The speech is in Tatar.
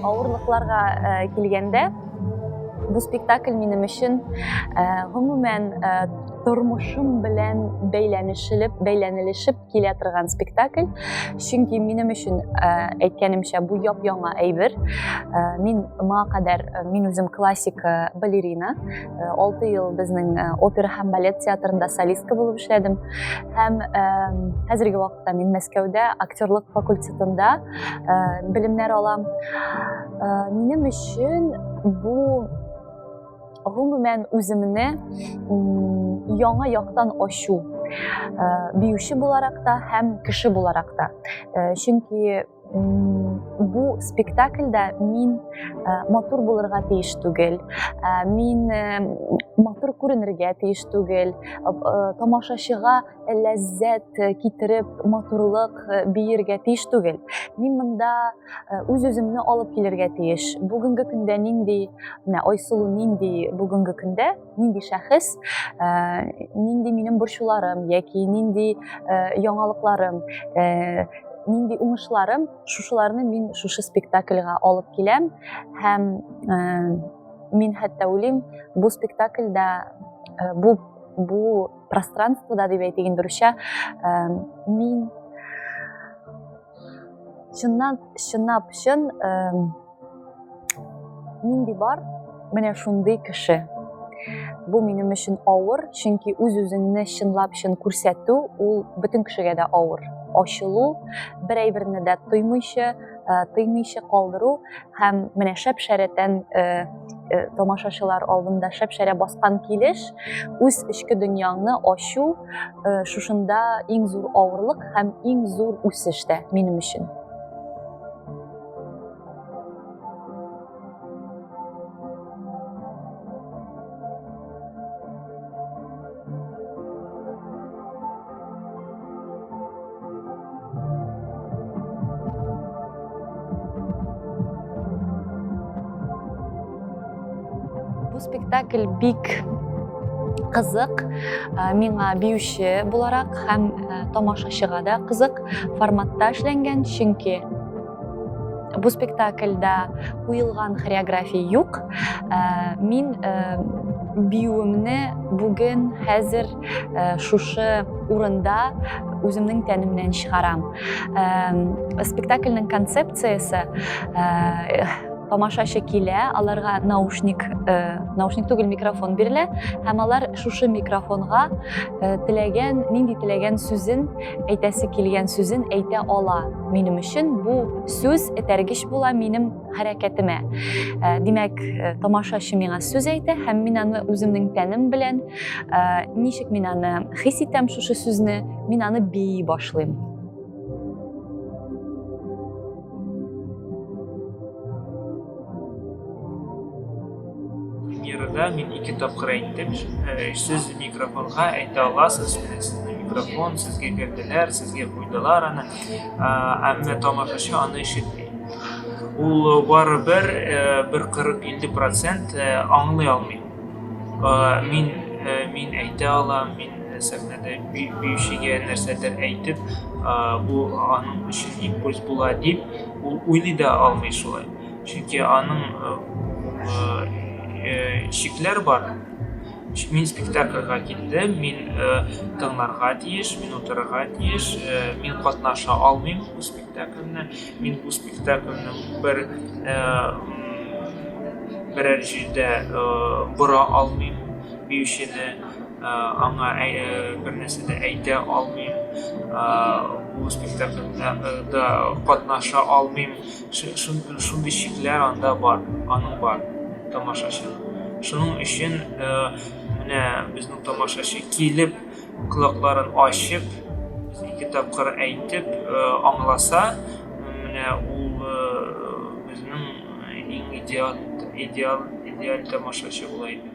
Авырлыкларга килгәндә, бу спектакль минем өчен, гомумән, тормышым белән бәйләнешелеп, бәйләнелешеп килә торган спектакль. Чөнки минем өчен э, әйткәнемчә бу яп-яңа әйбер. Э, мин моңа кадәр э, мин үзем классик балерина. 6 ел безнең опера һәм балет театрында солистка булып эшләдем. Һәм хәзерге вакытта мин Мәскәүдә актерлык факультетында белемнәр алам. Минем өчен бу гомумән үземне яңа яктан ачу биюче буларак та һәм кеше буларак та чөнки бу спектакльдә мин матур булырга тиеш түгел мин матур күренергә тиеш түгел тамашачыга ләззәт китереп матурлык биергә тиеш түгел мин монда үз үземне алып килергә тиеш бүгенге көндә нинди менә айсылу нинди бүгенге көндә нинди шәхес нинди минем борчуларым яки нинди яңалыкларым нинди уңышларым шушыларны мин шушы спектакльга алып киләм һәм мин хәтта уйлыйм бу спектакльдә бу бу пространствода дип әйтик инде русча мин чыннан чынлап чын нинди бар менә шундый кеше бу минем өчен авыр чөнки үз үзеңне чынлап чын күрсәтү ул бөтен кешегә дә авыр ачылу бер әйберне дә тоймыйча тыймыйча калдыру һәм менә шәп шәрәтән э, э, тамашачылар алдында шәп шәрә баскан килеш үз эчке дөньяңны ачу э, шушында иң зур авырлык һәм иң зур үсеш тә минем өчен Бу спектакль бик кызык миңа биюче буларак һәм тамашачыга да кызык форматта эшләнгән чөнки бу спектакльдә куелган хореография юк мин биюемне бүген хәзер Э, шушы урында үземнең тәнемнән чыгарам э, спектакльнең концепциясе э, тамашачы килә аларга наушник наушник түгел микрофон бирелә һәм алар шушы микрофонга теләгән нинди теләгән сүзен әйтәсе килгән сүзен әйтә ала минем өчен бу сүз этәргеч була минем хәрәкәтемә. Э, димәк, э, тамашачы миңа сүз әйтә һәм мин аны үземнең тәнем белән, э, ничек мин аны хис итәм шушы сүзне, мин аны бии башлыйм. Мирда мин ике тапкыр әйттем, сүз микрофонга әйтә аласыз, микрофон сезгә бирделәр, сезгә куйдылар аны, әмма тамашачы аны ишетми. Ул барыбер бер 40-50 процент аңлый алмый. Мин мин әйтә алам, мин сәхнәдә биючегә нәрсәдер әйтеп, бу аның өчен импульс була дип, ул уйлый да алмый шулай. Чөнки аның чикләр бар. Мин спектакльгә килдем, мин тыңларга тиеш, мин утырырга тиеш, мин катнаша алмыйм. спектакльне мин бу спектакльне бер берәр җирдә бора алмыйм биючене аңа бер нәрсә дә әйтә алмыйм бу спектакльда катнаша алмыйм шундый шикләр анда бар аның бар тамашачы шуның өчен менә безнең тамашачы килеп Колакларын ачып, ике тапкыр әйтеп, аңласа, менә ул безнең иң идеаль, идеаль, идеаль тамашачы була иде.